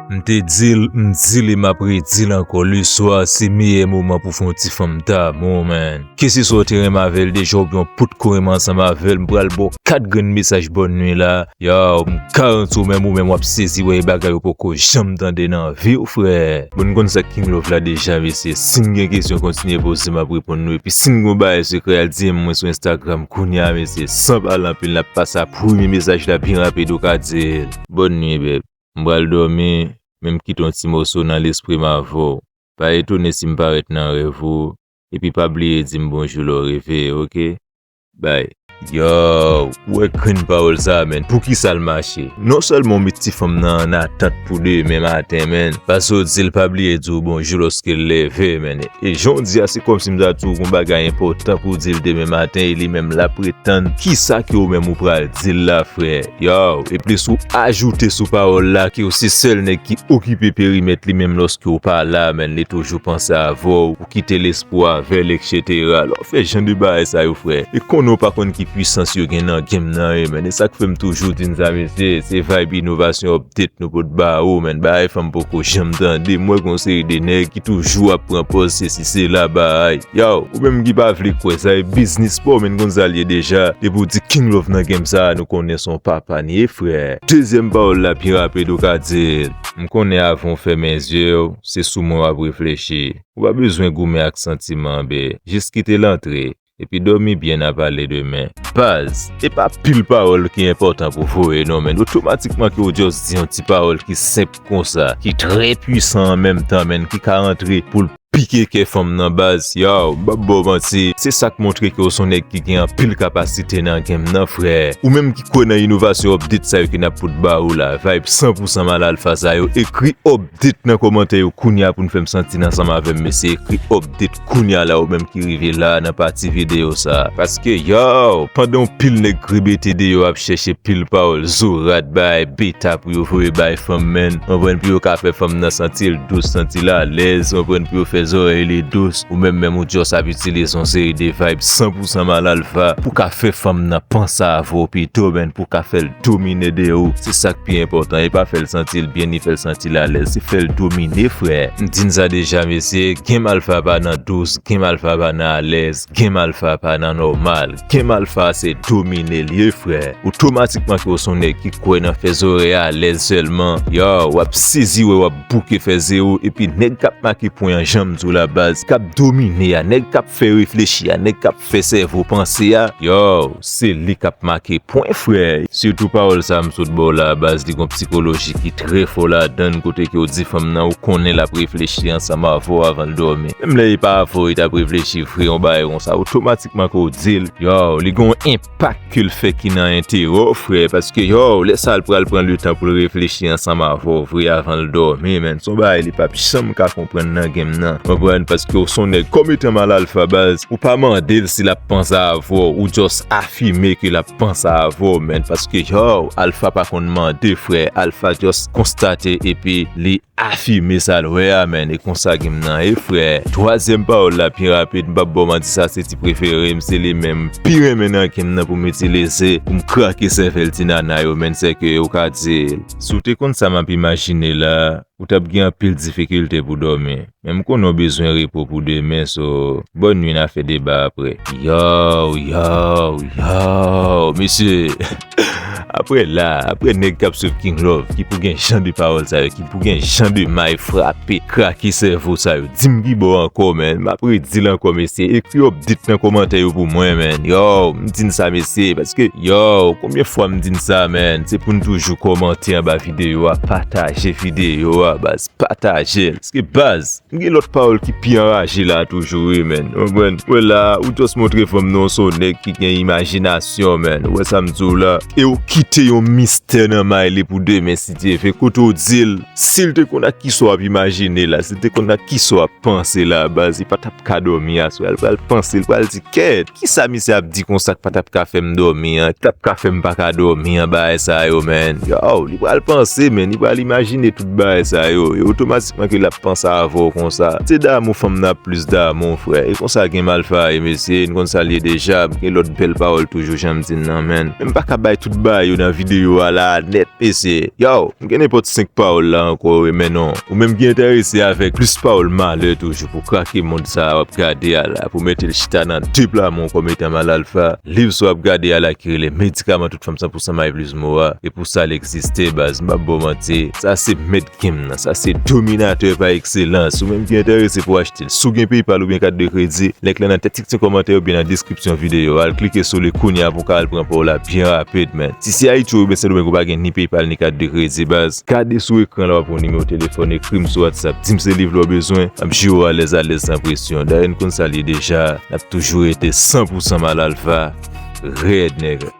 M te dil, m di li map redil ankò le swa se meyè moman pou fon ti fanm damou man. Keseswa w te renmen avèl deja oubyen w potko renmen ansanm avèl m pral baw 4 grenn mesaj bòn nwi la, yow m garanti w menm ou menm wap sezi wè e bagay ou poko janm tande nan viw frè. Bon n konn sak king love la deja mesye, sin gen kesyon kontinye poze map reponn nou epi sin gon bagay sekrè al DM mwen sou Instagram kounya mesye san pale anpil nap pase a premye mesaj la byen rapid ou ka dil. Bòn nwi beb. M pral dòmi, men m kite yon ti moso nan lespri m avè w. Pa etone si m parèt nan rèv ou, epi pa bliye di m bonjou lè w reveye ok. Bay. Yow, ou wè grenn pawòl sa a menn, poukisa l mache? Non sèlman w met ti fanm nan an atant pou demen maten menn, pase w di l pa bliye di w bonjou lòske l leve menn, e jan w di a se kòmsi m ta di w gon bagay enpòtan pou w di l demen maten e li menm l ap ret tann kisa ke ou menm ou pral di l la frè. Yow e plis ou ajoute sou pawòl la ke w se sèl nèg ki okipe perimèt li menm lòske w pa la menn li toujou panse avè w ou kite l espwa avè l etc lè w fè jan de bagay sa yo frè e konnen w pa konn ki pwisans yo gen nan game nan e menn e sak fè m toujou di n sa mesye se vayb inovasyon Tet nou pot bawo menn bagay sa m poko janm tande m wè gon seri de nèg ki toujou ap pran pòz sesi sela baay yow ou menm ki pa vle kwè sa e biznis paw menn konn sal ye deja depi w di king love nan game sa nou konnen son papa n ye frè. Dezyèm pawòl la pi rapid ou ka dil. M konnen avan w fèmen zyew se sou mwen wap reflechi. Ou pa bezwen goumen ak santiman be, jis kite l antre. epi domi byen na pale demen. Baz, e pa pil pawòl ki enpòtan pou voye non menn, otomatikman ke ou just di yon ti pawòl ki senp konsa, ki trè pwisan an menm tan menn, ki ka antre poul pike kè fanm nan baz, yow m pap baw manti se sak montre ke ou son nèg ki gen anpil kapasite nan game nan frè, ou menm ki kwè nan inovasyon update sa yo ke nap pot ba ou la, vibe 100 pou 100 mal alpha sa yo, ekri update nan kòmantè yo kounya poun fèm santi n ansanm avèm mesye ekri update. Kounya la ou menm ki rive la nan pati video sa. Paske yow, pandan yon pil nèg krebete deyò ap chèche pil pawòl zorat bay beta pou yo voye bay fanm menn, konprann pou yo ka fè fanm nan santi l dous, santi l alèz, konprann pou yo fè zòrèy li dous, ou menm menm ou just ap itilize yon seri de vayb san pou san mal alfa pou ka fè fanm nan panse avè w pito menn pou w ka fè l domine de ou se sak pi enpòtan e pa fèl santil byen ni fèl santil alèz se fèl domine frè m di n sa deja mesye game alpha pa nan dous game alpha pa nan alèz game alpha pa nan nòmal game alpha se domine l ye frè otomatikman ke w son nèg ki kwè nan fè zòrèy alèz sèlman yow wap sezi wè wap bouke fè zero epi nèg kap make pwen an janm di w la baz kap domine a nèg kap fè reflechi a nèg kap Fè sèvo panse a. Yow se li kap make pwen frè. Sitou pawòl sa m sot baw la a baz li gon psikoloji ki trè fò ladann kote ke w di fanm nan ou konnen lap reflechi ansanm avèw avan l dòmi menm lè e pa avèw li tap reflechi vre yon bagay konsa otomatikman ke w dil yow li gon enpak ke l fè ki nan enterè w frè, paske yow lè sa l pral pran le tan pou l reflechi ansanm avè w vre avan l dòmi men, son bagay li pap janm ka konprann nan game nan konprann, paske w son nèg kòm etan mal alfa baz, ou pa mande l si lap pansa avè w, ou jòs afime ke lap pansa avè w men, paske yow alfa pa konn mande frè, alfa jòs konstate epi li. Afime sa l wè a menn e konsa gem nan ye frè. Twazyèm pawòl la pi rapid m pap baw manti sa se ti prefere m se li menm m pi renmen nan gem nan pou m itilize pou m krake sèvèl ti nana yo menn sèke ou ka di Si w te konn sa m ap imajine la ou t ap gen anpil difikilte pou dòmi men m konnen w bezwen repo pou demen so bòn nwi n a fè deba aprè. Yow yow yow mesye. Aprè la, aprè nèg kap swiv King Love ki pou gen jan de pawòl sa yo, ki pou gen jan de may frape, krake sèvo sa yo, dim kibò ankò man, map redil ankò mesye, ekri update nan kòmantè yo pou mwen man, yow, m di n sa mesye, paske yow, konbyen fwa m di n sa man, se pou n toujou kòmante anba videyo a, pataje videyo a baz, pataje l, paske baz. M gen lòt pawòl ki pi anraje la toujou wi menn, ou konprann? Ou wè la a, ou just montre fanm nan w se yon nèg ki gen imajinasyon menn, ou wè sa m di w la? E w kite yon mistè nan may li pou demen si Dye ve, kote w di l, si l te konn ak kisa w ap imajine la, si l te konn ak kisa w ap panse la baz, li pa t ap ka dòmi aswè a, li pral panse, li pral di, kèèt, kisa misye ap di konsa k pa t ap ka fè m dòmi an, k t ap ka fè m pa ka dòmi an, bagay sa yo menn, yow, li pral panse menn, li pral imajine tout bagay sa yo, e otomatikman. Mwen ke lap panse avèw konsa. Se damou fanm nan ap plis damou frè e konsa gen malfa ye mesye n konn sal ye deja gen lòt bèl pawòl toujou janm di nan menn men m paka bay tout bagay yo nan video a la nèt mesye yow m gen nenpòt 5 pawòl la ankò wi men non ou menm ki entèrese avèk plis pawòl malè toujou pou krake mond sa wap gade a la pou metel chita nan 2 pla men w kòm etan mal alfa liv sa wap gade a la ki rele medikaman tout fanm 100 pousan mayvlizmo a e pou sa l egziste baz m pap baw manti sa se med Kim nan sa se dominatè pa ekselans. Ou menm ki enterese pou achte l, si w gen PayPal oubyen kat de kredi, link lan nan tèt ti kòmantè oubyen nan deskripsyon videyo a. Al klike sou li kounya pou w ka al pran pa w la byen rapid man. Si se Ayiti oubyen Sendomeng ou pa gen ni PayPal ni kat de kredi baz, gade sou ekran la w ap wè yon nimewo telefòn ekri m sou WhatsApp di m se liv la w bezwen m ap jere w alèz alèz san presyon. Dayè n konn sa l ye deja, n ap toujou rete 100 pousan Malalfa rèd nègre.